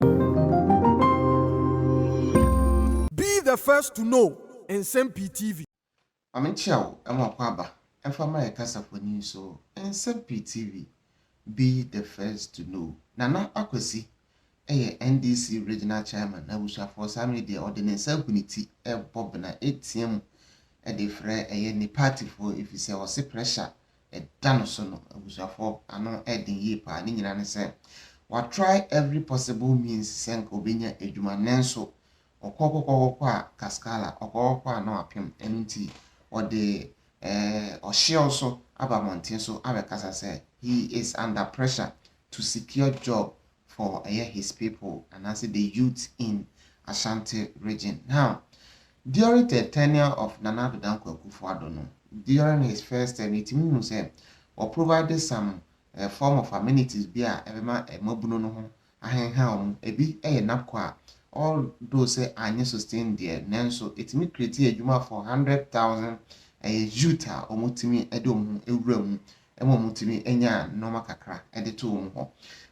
Be the first to know Nsɛm Pii TV. Ma menkyea wo ma w'akwaaba mfa mma yɛn kasafoni nso Nsɛm Pii TV, Be the first to know Nana Akwasi yɛ NDC Regional Chairman na abusuafoɔ saa mmerɛ yi deɛ ɔde ne nsa agu ne ti rebɔ bena ɛretea mu de frɛ ɛyɛ ne partyfoɔ ɛfiri sɛ ɔse pressure ɛda no so no, abusuafoɔ, ano ɛyɛ den yie paa. Ne nyinaa ne sɛ, wa try every possible means sɛ nka ɔbɛnya adwuma nanso ɔkɔ kɔkɔ kɔkɔ a kaskala, ɔkɔ kɔkɔ a na wapem. Ɛno nti ɔde eh, ɔhyew so aba mmɔnten so abɛkasa sɛ he is under pressure to secure job for ɛyɛ his people anaasɛ the youths in Ashanti region. Now, during the tenure of Nana Addo Dankwa Akufo-Addo no, during his first term, yɛtumi hu sɛ wɔ provide some uh, form of amenities bi a ɛbɛma mmabunu no ho ahenha wɔn. Ebi yɛ NABCO a although sɛ anyɛ sustain deɛ nanso ɛtumi create adwuma for hundred thousand ɛyɛ youth a wɔtumi de wɔn ho awura mu ma wɔtumi nyaa nnoɔma kakra de too wɔn hɔ.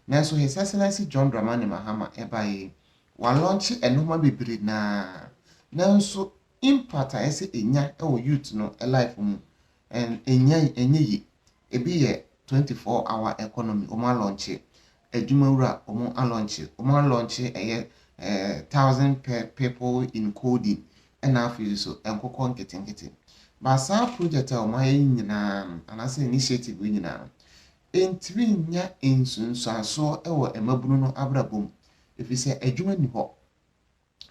Nanso His Excellency John Dramani Mahama baeɛ yi, wɔalɔnkye nnoɔma bebree no ara, nanso impact a ɛsɛ ɛnya wɔ youth no life mu, ɛnyɛ yie. Ɛbi yɛ twenty four hour economy, wɔalɔnkye. adwumawura ɔmo alɔnkye ɔmo alɔnkye ɛyɛ ɛɛ thousand per people in coding ɛna afei nso nkokɔ nketenkete ba saa project a ɔmo ayɛ yi nyinaa no anaasɛ initiative yi nyinaa no ɛntumi nya nsunsuansoɔ ɛwɔ mmabunu no abrabɔ mu ɛfiri sɛ adwuma ni hɔ.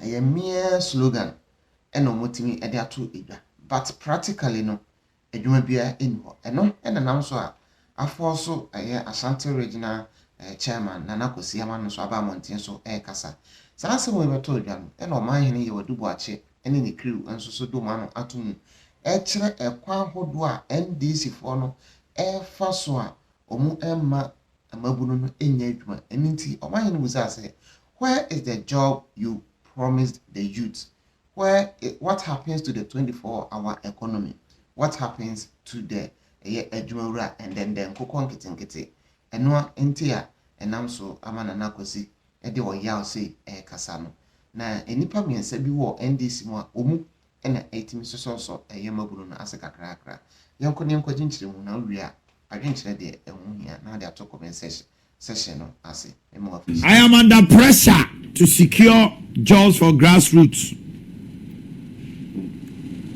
ɛyɛ mere slogan na wɔatumi de ato dwa but practically no adwuma biara nni hɔ. Ɛno na nam so a afɔɔ so ɛyɛ Ashanti Regional Chairman Nana Kwasi Amah no nso aba mmɔnten so rekasa. Saa asɛm wei bɛtɔɔ dwa no na Ɔmanhene Yewa Duboakye ne ne crew nso so de wɔn ano ato mu rekyerɛ ɛkwan hodoɔ a NDC foɔ no refa so a wɔremma mmabunu no nyɛ adwuma. Ɛno nti, ɔmahene no bisaa sɛ, Where is the job you promised the youth? Where, what happens to the 24 hour economy? What happens to the ɛyɛ adwumawura ɛndɛndɛn nkokɔ nketenkete? Ɛno nti a ɛnam so ama Nana Kwasi de ɔyaw sei rekasa no. Na nnipa mmiɛnsa bi wɔ NDC mu a wɔn mu na etumi sosɔsosɔ yɛn mmabunu no ase kakrakra. Yɛnkɔ na yɛnkɔgye nkyerɛmu, na wowie a, adwenkyerɛ deɛ ɛho hia na wode ato comment section section no ase. Mema wo afiri I am under pressure to secure jobs for grassroots,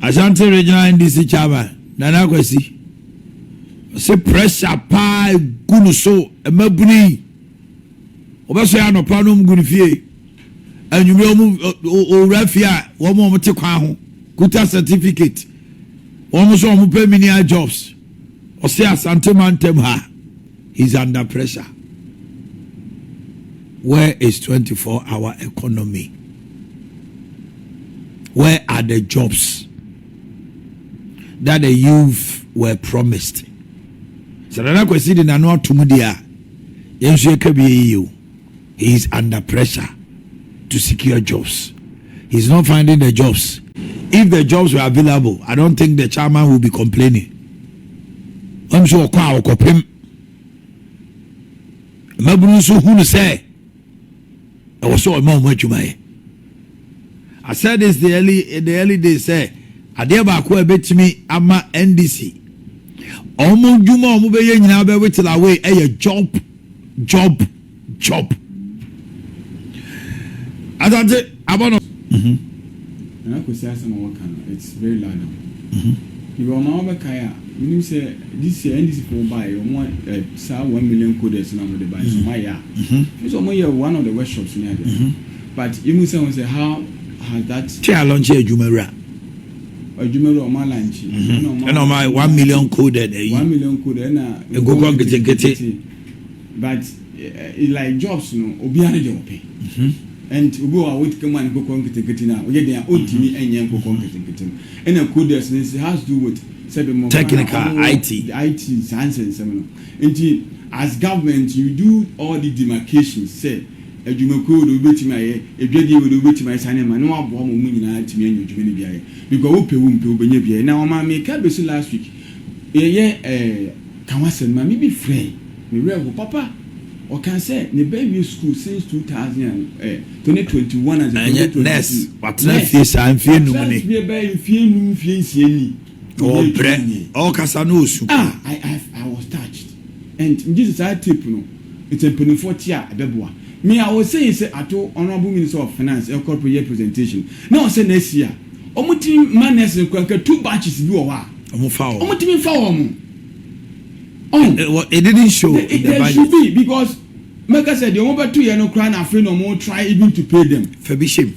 Ashanti Regional NDC Chairman Nana Kwasi ɔse pressure paa egu no so, mmabunu yi wɔbɛsɔre anɔpa na wɔgu ne fie. Anwummerɛ wɔn owura fie a wɔn a wɔte kwan ho kuta certificate wɔn nso wɔn pɛ menial jobs ɔsɛ Asante mantam ha he's under pressure where is 24 hour economy where are the jobs that the youth were promised sɛ nana kwasi de nano atom deɛ a yɛn nso yɛka bi yɛyɛ o he is under pressure to secure jobs he is not finding the jobs if the jobs were available i don't think the chairman will be complaining wɔn nso ɔkɔ a ɔkɔpem mmabunu nso hunu sɛ ɛwɔ sɛ ɔma wɔn adwuma yɛ I said this the early in the early days sɛ adeɛ baako a ɛbɛtumi ama NDC wɔn dwuma a wɔbɛyɛ nyinaa bɛwetela away ɛyɛ job Job, Job. Asante abɔ no. Mhm. Na akosi asɛm a wɔka no it's very loud am. Mhm. Ebi ɔma wɔbɛkae a menim sɛ this year NDC fo bae wɔn eh, saa one million coders na wɔde bae so mayɛ a. Mhm. Nso wɔn yɛ one of the workshops ne adeɛ. Mhm. But yɛmu sɛ wɔn sɛ how has that. Twe alɔnkye adwuma wura. adwuma bi a wɔn alankye. Mhm. ɛna wɔn ayɛ one million coded ɛyi. one million coded ɛna. nkokɔ nketenkete. but eh, eh, like jobs no obiara ne deɛ ɔpɛ. Mhm. and obi wɔ a wɔtumi kama ne nkokɔ nketenkete na ɔyɛ den a ɔntumi mhm. nyɛ nkokɔ nketenkete no ɛna coders no nso has to do with sɛbi mo. technical it. it saa nsɛnsɛm no nti as government you do all the demarcations sɛ. adwumakuo wei deɛ wobɛtumi ayɛ, adwadie wei deɛ wobɛtumi ayɛ saa nneɛma na waboa ma wɔn nyinaa atumi anya adwuma no bi ayɛ because wopɛ wompɛ wobɛnya bi ayɛ na ɔmaa me car bɛsi last week yɛyɛ ɛɛ ka ho asɛm no maame bi frɛɛ me werɛ ho papa ɔkaa sɛ ne ba awie school since 2000 and ɛɛ 2021 and ɛnyɛ 2022 nurse watena nurse fie saa mfie num watena ni fie bɛyɛ mfie num mfie nsia ni ɔnyɛ ɔbrɛ adwuma nyɛ ɔkasa na ɔsu ah I, I, I was touched and gye sɛ saa tape no It's a mpaninfoɔ te a ɛbɛboa me a ɔwɔ say sɛ ato honourable minister of finance ɛkɔ pro yɛ presentation na ɔsɛ next year ɔmo tumi ma nurse no kura nka two batches bi wɔ hɔ a ɔmo fa ɔmo tumi nfa wɔ ɔmo ɔn it didn't show in the budget there should be because mɛka sɛ deɛ ɔmo bɛto yɛ no kura na afei na ɔmo try even to pay them fa bi hyɛ mu.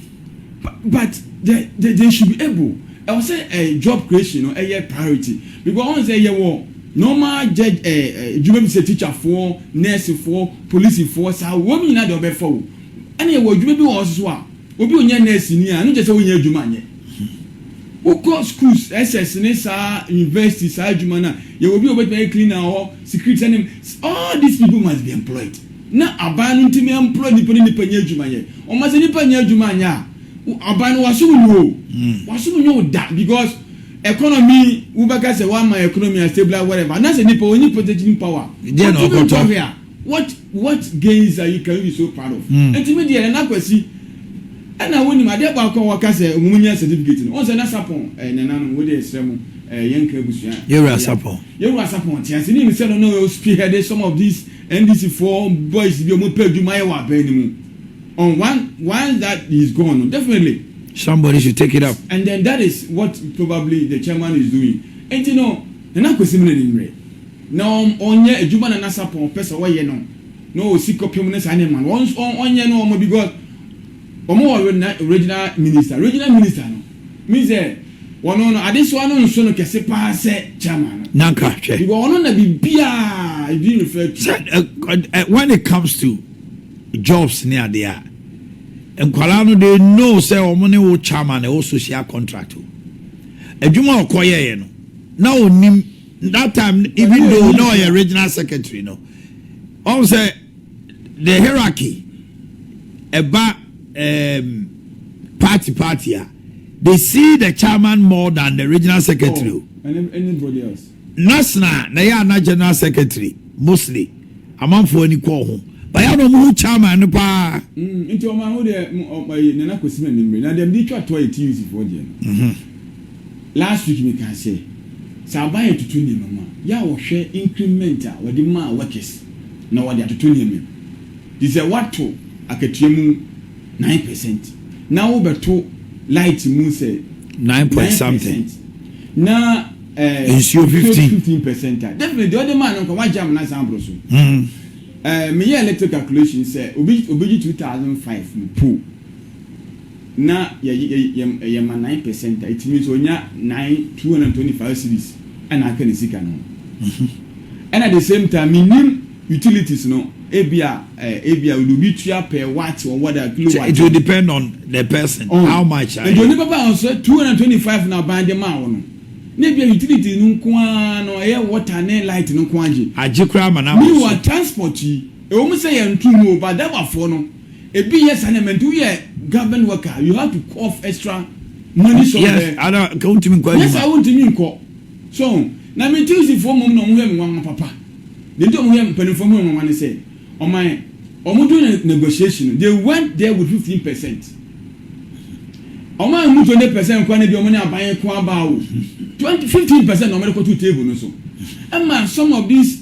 But the the they should be able ɛwɔ sɛ eh job creation no ɛyɛ priority because ɔn sɛ yɛwɔ normal jɛ eh adwuma bi sɛ teacher foɔ, nurse foɔ, police foɔ saa wɔn nyinaa deɛ ɔbɛfa o ɛna yɛwɔ adwuma bi wɔ hɔ soso a obi onyɛ nurse ni a ɛno nkyɛ sɛ onyɛ adwuma nyɛ wokɔ schools SS ne saa university saa adwuma no a yɛwɔ bi a obetumi ayɛ cleaner wɔ hɔ security sɛ ne all these people must be employed. na aban no ntumi ɛmplɔy nnipa ne nnipa nyɛ adwuma nyɛ ɔma sɛ nnipa nyɛ adwuma anyɛ a aban no wasom nyɛ o wasom nyɛ o da because economy wobɛka sɛ wama economy a stabilize whatever anasɛ nnipa wɔnyi purchasing power wɔtumi nkɔhwɛ a what what gains are you can you be so proud of mm. nti me deɛ nana kwasi ɛna wonim adeɛ baako a wɔka sɛ ɔmo nya certificate no wɔn sɛ na sapɔn ɛɛ nana no wɔde ɛsrɛ mo ɛɛ yɛn nka abusua yɛwura sapɔn yɛwura sapɔn te ase ne nim sɛ no na ɔyɛ spearhead some of these NDC foɔ boys bi ɔmo pɛ adwuma yɛ wɔ aban no mu on one once that he is gone no definitely. Somebody should take it up. And then that is what probably the chairman is doing nti no Nana Kwesi Mena ni mmerɛ na ɔn ɔnyɛ adwuma a Nana Sarpong pɛ sɛ ɔyɛ no na ɔwɔ sikɔpem ne saa nneɛma no ɔn ɔnyɛ no ɔma because Wɔn wɔ na regional minister regional minister no mean sɛ wɔn no adesoa no nso no kɛse paa sɛ chairman no. Na nka hwɛ. Because wɔn na biribiara ebi refer to. Sɛ when it comes to jobs ne adeɛ a nkwadaa no they know sɛ wɔn ne wo chairman ɛwɔ social contract o adwuma a ɔkɔ yɛɛyɛ no na onim that time even though na ɔyɛ regional secretary no ɔn sɛ. The hierarchy ɛba um, party party a they see the chairman more than the regional secretary o. Oh, and anybody else. National na yɛ ana general secretary mostly amanfoɔ ani kɔɔ ho baya na ɔmo ho chairman no paa. Mm, nti ɔmo aho deɛ ɔmo ayi nana kɔsi na nimire na deɛ bi twa tɔ yɛ tuc foɔ deɛ no. Mhm. Last week me kaa sɛ sɛ aban yɛ toto nneɛma mu a yɛ a wɔhwɛ increment a wɔde maa workers na wɔde atoto nneɛma mu te sɛ woato akatua mu nine percent na wo bɛto light mu sɛ nine point something na eh, nsuo fifteen fifteen percent a definitely deɛ ɔde maa no nkɔ wagye amena san aboro so mm. eh, meyɛ electric calculation sɛ obi obi gye two thousand five mu po na yɛyɛ yɛma nine percent a etumi nso onya nine two hundred and twenty five cedis ɛna aka ne sika no ho ɛna the same time menim utilities no ebia eh, ebia wɔde obi tua per watt or what a kilowatt. It will depend on the person oh. how much. Nti onipa ba wɔn sɛ two hundred and twenty five na aban de maa wɔn no na ebia utility no nko ara no ɛyɛ water ne light no nko agye. agye koraa ma na mi wɔ transport yi ewom sɛ yɛn ntu mu o ba dabafoɔ no. Ebi yɛ saa na ɛma nti woyɛ government worker you have to cough extra money somewhere. Yes, ana nka wontumi nkɔ adwuma. Nyɛ saa wontumi nkɔ. So na me Tusifoɔ mmom na wɔn yɛ me nwanwa papa. Deɛ nti wɔn yɛ mpanimfoɔ ho nwanwa ne sɛ wɔn wɔn do ne negotiation no they went there with fifteen percent. Wɔn a mu twenty percent kora no bi wɔn ne aban ko aba o. Twenty fifteen percent na wɔn de kɔto table no so. Ɛma some of these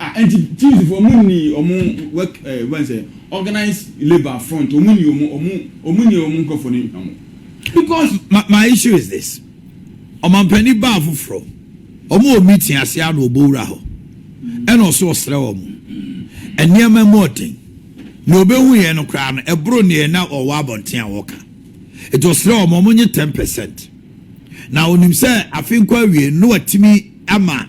Ah enti Jews foɔ ɔmo nnii ɔmo work eh wobɛhu sɛ organized labour front ɔmo nnii ɔmo ɔmo ɔmo nnii ɔmo nkorɔfoɔ no hwammɔ. Because my my issue is this, ɔmampanin baa foforɔ, ɔmo wɔ meeting aseɛ a na ɔbɔ wura hɔ ɛna ɔse ɔsrɛ ɔmo nneɛma mu ɔden, nea ɔbɛhuiɛ no koraa no ɛboro neɛ na ɔwɔ abɔnten a ɔka, enti ɔsrɛ ɔmo ɔmo nye ten percent, na ɔnim sɛ afe nkɔ awiei no na watumi ama.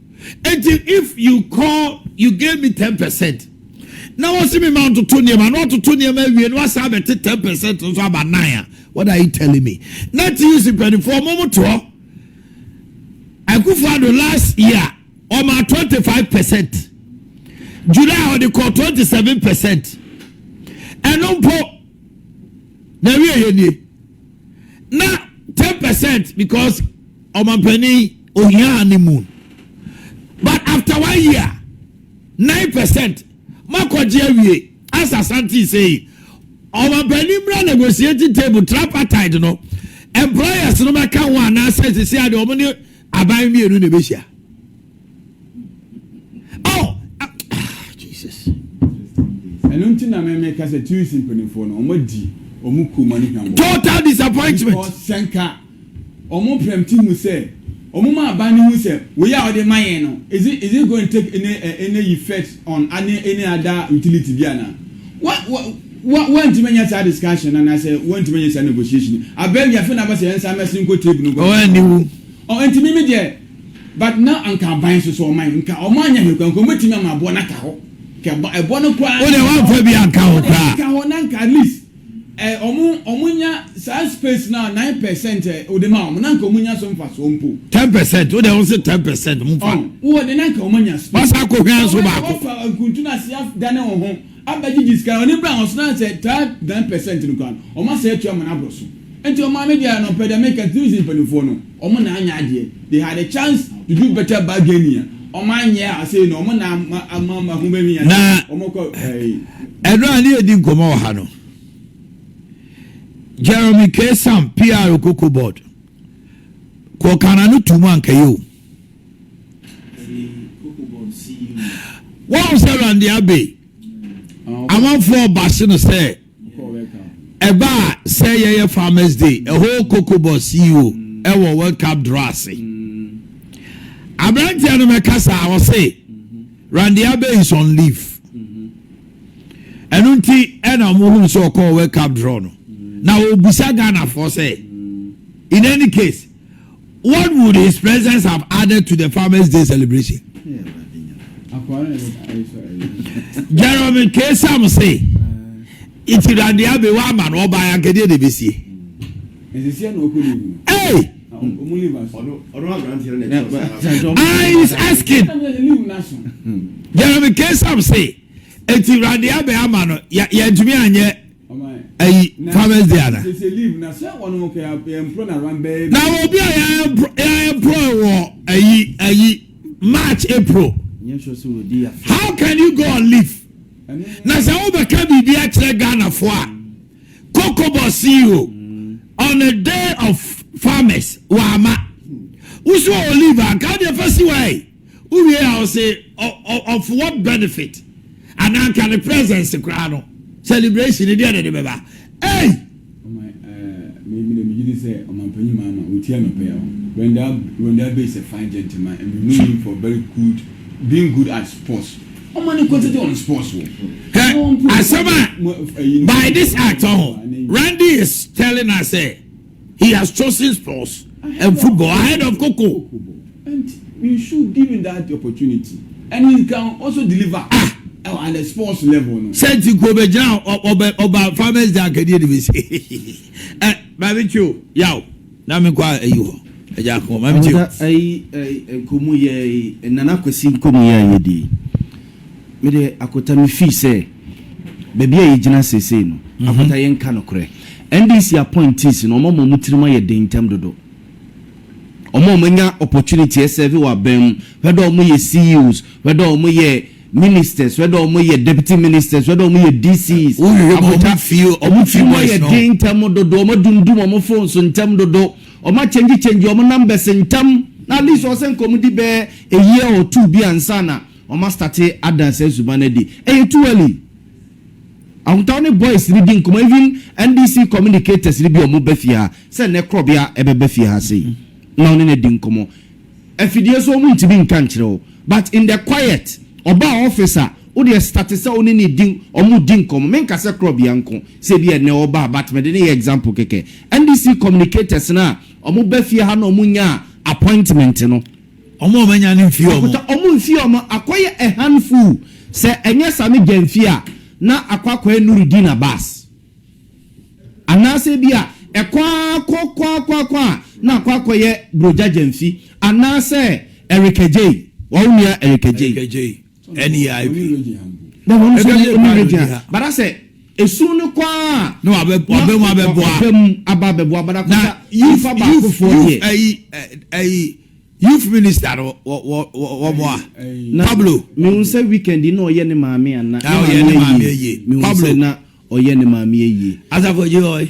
Enti if you call you gave me ten percent na wɔsi mi ma ntoto nneɛma na ɔtoto nneɛma awie na wasan abɛte ten percent nso aba nine a what are you telling me? Na TUC mpanimfoɔ ɔmo mo to hɔ. Akufo-Addo last year ɔma twenty five percent July ɔde kɔ twenty seven percent ɛno mpo na ɛwi ɛyɛ nie. na ten percent because ɔmampanin ohia honeymoon but after one year nine percent makɔgye awie asa santi sei ɔmampanin mmira negotiating table tripartite no employers no bɛka ho anaasɛ sisi adeɛ wɔn ne. Aban mmienu na ɛbɛhyia. Oh, ah, ah, Jesus. ɛno nti na mɛmɛ ka sɛ tunis mpanimfoɔ no wɔn adi wɔn kuo ma no hwam wɔ Total disappointment. because sɛ nka wɔn prɛmti hu sɛ wɔn ma aban no hu sɛ wei a wɔde ma yɛn no is it is it going to take any eh, any effect on any any other utility bi ana wa wa Wa wantumi anya saa discussion no anaasɛ wantumi anya saa negotiation no. Abɛɛ wi afei na aba sɛ yɛn nsa mmɛsen nkɔ table no nkɔ. Ɔwɔ aniwu. Ɔ nti mimi deɛ but na anka aban nso so ɔman nka ɔmo anya hwɛ kura nka ɔmo bɛtumi ama ɛboɔ no aka hɔ. Kɛ ɛbɔ ɛboɔ no koraa. Wo deɛ wamfa bi anka hɔ koraa. Anka hɔ na anka at least ɛ ɔmo ɔmo nya saa space no a nine percent ɛ ode ma ɔmo na anka ɔmo nya so mfasoɔ mpo. Ten percent wo deɛ wo se ten percent mo fa. Ɔ wowɔ deɛ na anka ɔmo anya space. Wasa akɔhwɛ nso baako. Ɔbɛka wafa nkuntu no ase adane wo ho. abɛgye gye sika no ɔne bra wɔn so na sɛ taa nine percent no koraa no wɔn asɛe atua amana aboro so nti wɔn maame deɛ no ɔpɛ deɛ meka New Zealand mpaninfoɔ no wɔn na anyɛ adeɛ they had a chance to do better bargaining a wɔn anyɛ a sei no wɔn na ama ama ama ho bɛmi ase wɔn kɔ ɛɛ. Ɛno a ne yɛdi nkɔmmɔ wɔ ha no, Jeremy K. Sam, PR Koko Board, kɔɔ Kana no tuu mu anka yɛ o. wɔn sɛ rande abe amanfoɔ baase no sɛ ɛba a sɛ yɛyɛ farmers day ɛhɔ kokobɔ ceo ɛwɔ world cup draw ase aberanteɛ no mɛkasa a ɔse rande abe is on leave ɛno nti ɛna wɔn hunu sɛ ɔkɔɔ world cup draw no na ɔbusa ghanafoɔ sɛ in any case What would his presence have added to the Farmers' Day celebration? Jeremy K. Sam say, Iti na nea be wa ama no ɔbaa yankɛdeɛ na ebesie. Hey! I is asking. Jeremy K. Sam say, Iti na nea be ama no yɛntumi anyɛ. ayi farmers day ana na obi a yɛaɛmprɔe wɔ ayi ayi march april how can you go on leave na sɛ wobɛka biribi akyerɛ ghanafoɔ a kokobɔ ceo on the day of farmers wama woso wɔ leave anka wode ɛfa si wae Wowie a ɔse of what benefit? Anaa anka ne presence koraa no celebration no deɛ na ɛde bɛba? Ei! Hwɛ asɛm a by this act ɔho Randy is telling us sɛ. He has chosen sports and football ahead of koko. And we should give him that opportunity and he can also deliver ah. at the sports level no. Sɛ nti ko bɛ gyina ɔbɛ ɔba farmers day akadie de bi se ɛ maame kyi o yaw na mi kɔ ayi hɔ ɛgya kɔ maame kyi o. Ayi nkomu yɛ nana kwasi nkomu yɛ ayɛ di. Me deɛ Akotta me fii sɛ baabi a yɛgyina seesei no Akotta yɛnka nokorɛ NDC appointees no wɔn ama wɔn tirim ayɛ den ntɛm dodo wɔn a wɔn anya opportunity ɛsɛve wɔ aban mu whether wɔn yɛ CEOs whether wɔn yɛ ministers whether wɔn yɛ deputy ministers whether wɔn yɛ DCs Akotta wɔn tirim ayɛ den ntɛm dodo wɔn adumdum wɔn phone so ntɛm dodo wɔn akyɛngye kyɛngye wɔn numbers ntɛm na at least wɔn sɛ nka wɔn di bɛɛ a year or two bi ansa na Wɔma starte ada saa suban no adi. Ɛyɛ too early. Ahotaaw ne boys redi nkɔmmɔ even NDC communicators no bi a wɔn ba fie ha sɛ nnɛ Krɔbea ɛbɛba fie ha sei na ɔne no adi nkɔmmɔ. Afidie so wɔn ntumi nka nkyerɛ wo but in the quiet ɔbaa office a wo deɛ starte sɛ wo ne no di wɔn di nkɔmmɔ me nka sɛ Krɔbea nko sɛ ebi a nnɛ ɔbaa but mede no yɛ example kɛkɛ. NDC communicators no a wɔn ba fie ha na wɔn nyaa appointment no Ɔmo a wɔanya no mfii ɔmo. Ɔkuta ɔmo mfii ɔmo. Akɔ yɛ a hand full sɛ ɛnyɛ sa no gya mfii a na akɔ akɔyɛ Nurudeen Abass anaasɛ bi a ɛkɔ a kɔ kɔ a kɔ a kɔ a na akɔ akɔyɛ Bro Gya gya mfii anaasɛ Erica Jay wɔwo nua Erica Jay. NEIP. Na wɔn nso yɛ ɛmu regya. Bara sɛ esu no kɔ a. Na wabɛ wabɛ mu abɛboa. Wabɛ mu aba abɛboa bara kɔ sa. Youth youth youth ɛyi ɛyi youth minister no wɔ wɔ wɔ mo a. Pablo. Mehu sɛ weekend na ɔyɛ ne maame ana. Na ɔyɛ ne maame yie. Pablo na ɔyɛ ne maame yie. Asafo gye ɔyɛ.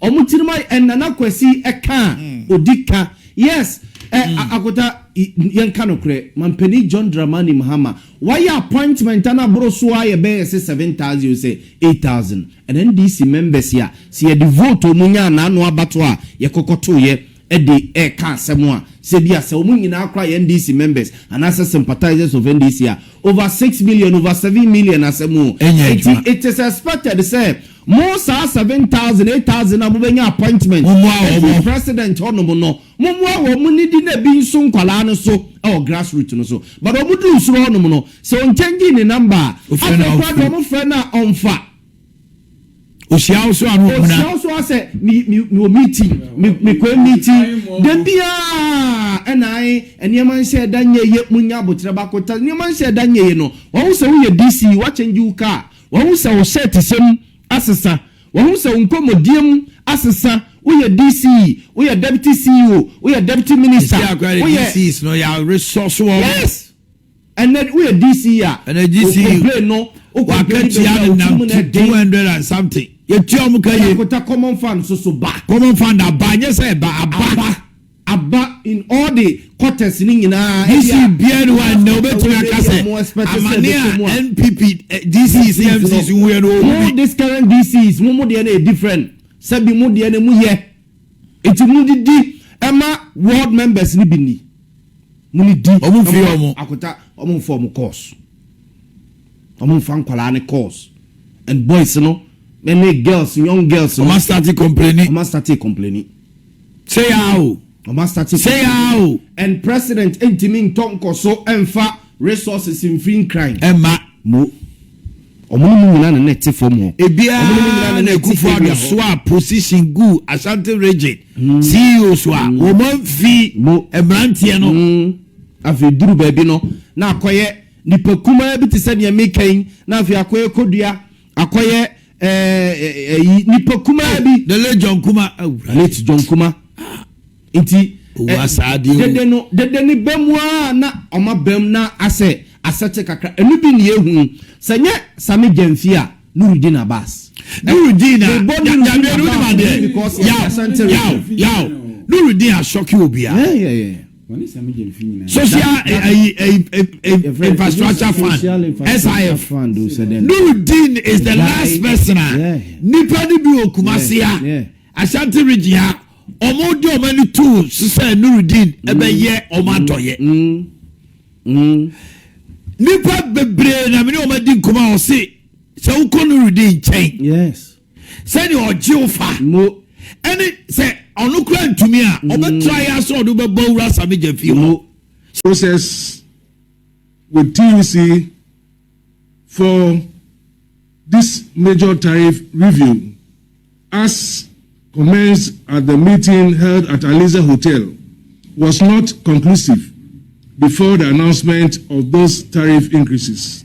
Ɔmo tirim ayɛ ɛ nana kwasi ɛkaa odi ka yes ɛ akota y yɛn ka nokorɛ mampanin John Dramani Mahama wayɛ appointment a na boro so ara yɛ bɛyɛ sɛ seven thousand sɛ eight thousand ɛna NDC members a sɛ yɛde vote ɔmo nya a na ano abato a yɛkɔkɔtoyɛ de reka asɛm a sɛ ebia sɛ wɔn nyinaa koraa yɛ NDC members anaasɛ sympathisers of NDC a, over six million, over seven million asɛm o. Enti it is expected sɛ mo saa seven thousand, eight thousand a mobɛnya appointment afiri president hɔ nom no, mommoa wɔn, mo nnidi na bi nso nkwadaa no so wɔ grass root no so. But wɔn duru soro hɔ nom no, sɛ ɔnkyɛngyi ne number a, afei koraa deɛ wɔn frɛ no a ɔnfa. Ohyia wo so a no huna. Ohyia wo so a sɛ me me me wɔ meeting me me kɔ meeting da biara ɛna ae nneɛma nhyɛ da nyɛ ye mo nya aboterɛ ba ko ta nneɛma nhyɛ da nyɛ ye no wahu sɛ wo yɛ DC wa change wo car wahu sɛ wo shirt hyɛ mu asesa wahu sɛ wo nkɔmɔdie mu asesa wo yɛ DC wo yɛ deputy CEO wo yɛ deputy minister wo yɛ. Yes. Ɛnɛ woyɛ DC a, Ɛnɛ DC o complain no, o complain bɛ wia o ti mu na ɛden. Two hundred and something. Yɛ tua ɔmo ka yie. Abɛakota common fund soso ba. Common fund aba, nyɛ sɛ ɛba, aba. Aba, aba in all the quarters no nyinaa. DC biara ni hɔ a ɛnɛ obetumi aka sɛ amane a NPP DC si MCs hu yɛ no ohu bi. Mo this current DCs mo mo deɛ no yɛ different, sɛbi mo deɛ no emu yɛ. Enti mudidi ma ward members no bi nni. Mone di na moma akota. Wɔn mfa wɔn course. Wɔn mfa nkwadaa no course. And boys no ne girls, young girls no. Wɔn astate complaining. Wɔn astate complaining. Sɛ yaa o. Wɔn astate complaining. Sɛ yaa o. And president ntumi ntɔ nkɔso mfa Resources mfiri Nkran. Ɛmma mo. Ɔmo ne mo nyinaa na na ɛte fam hɔ. Ebia Ɔmo ne mo nyinaa na na ɛte Akufo Addo area hɔ. soaa position guu Ashanti Region CEOs hɔ a, wɔn amfi Mo. mmeranteɛ no. Mm. Afei duru baabi no, na akɔyɛ nipa kumaa bi te sɛ nea meka yi, na afei akɔyɛ kɔdua akɔyɛ ɛɛ ɛyi nipa kumaa bi. the late john kuma awura. late john kuma ah. nti. owu asaade o dede no dede ne bɛn mu a na ɔma bɛn mu na asɛ asɛte kakra ɛnu bi ne ehu sɛ nyɛ sami gyɛnfi a nurudin abas. nurudin a yadeɛ no ni ma deɛ yaw yaw yaw nurudin asɔki obiara. Social Infrastructure Fund, SIF. Nurudeen is the last person a nipa no bi wɔ Kumasi a Ashanti region a wɔn de wɔn ani tuu so sɛ Nurudeen ɛbɛyɛ mm. wɔn adɔyɛ. Mm. Mm. Nipa bebree na mene wɔn adi nkɔmɔ a wɔsi sɛ wokɔ Nurudeen nkyɛn. sɛdeɛ ɔgye wo fa mo ɛne sɛ ɔno kura ntumi a mm. ɔbɛtra yɛ asɛ ɔde wobɛbɔ wura samegya fie hɔ process with tuc for this major tariff review as commenced at the meeting held at Aliza Hotel was not conclusive before the announcement of those tariff increases.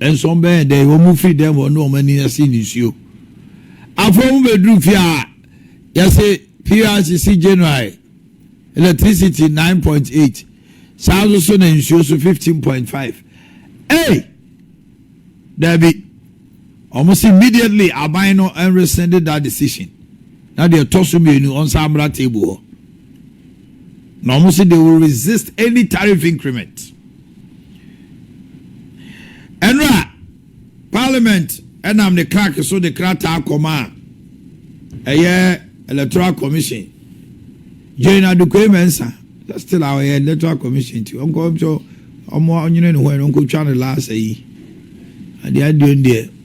Nso wɔbɛyɛɛ dɛn? Wɔfirii dɛm hɔ ne wɔn ani asee nisuo. Afei wɔbɛduruu fie a, yɛse PRC si January, electricity nine point eight, saa nso so na nsuo so fifteen point five. Ei! Daabi. Wɔn se immediately aban no nresende that decision, na deɛ ɛtɔ so mmienu wɔnsan mmra table hɔ. Na wɔn se they will resist any tariff increment. Ɛno a, Parliament nam ne clerk so de krataa kɔmaa ɛyɛ Electoral Commission, Jane Adukwei Mensah, sɛ still a ɔyɛ Electoral Commission nti ɔnkɔ nso ɔmo ɔnyene ne ho ɛno ɔnkɔtwa ne last ayi. Adeɛ aduon deɛ.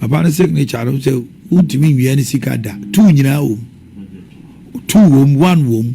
Papa no signature no sɛ wontumi nwia ne sika da. Two nyinaa wom. Two wom, one wom.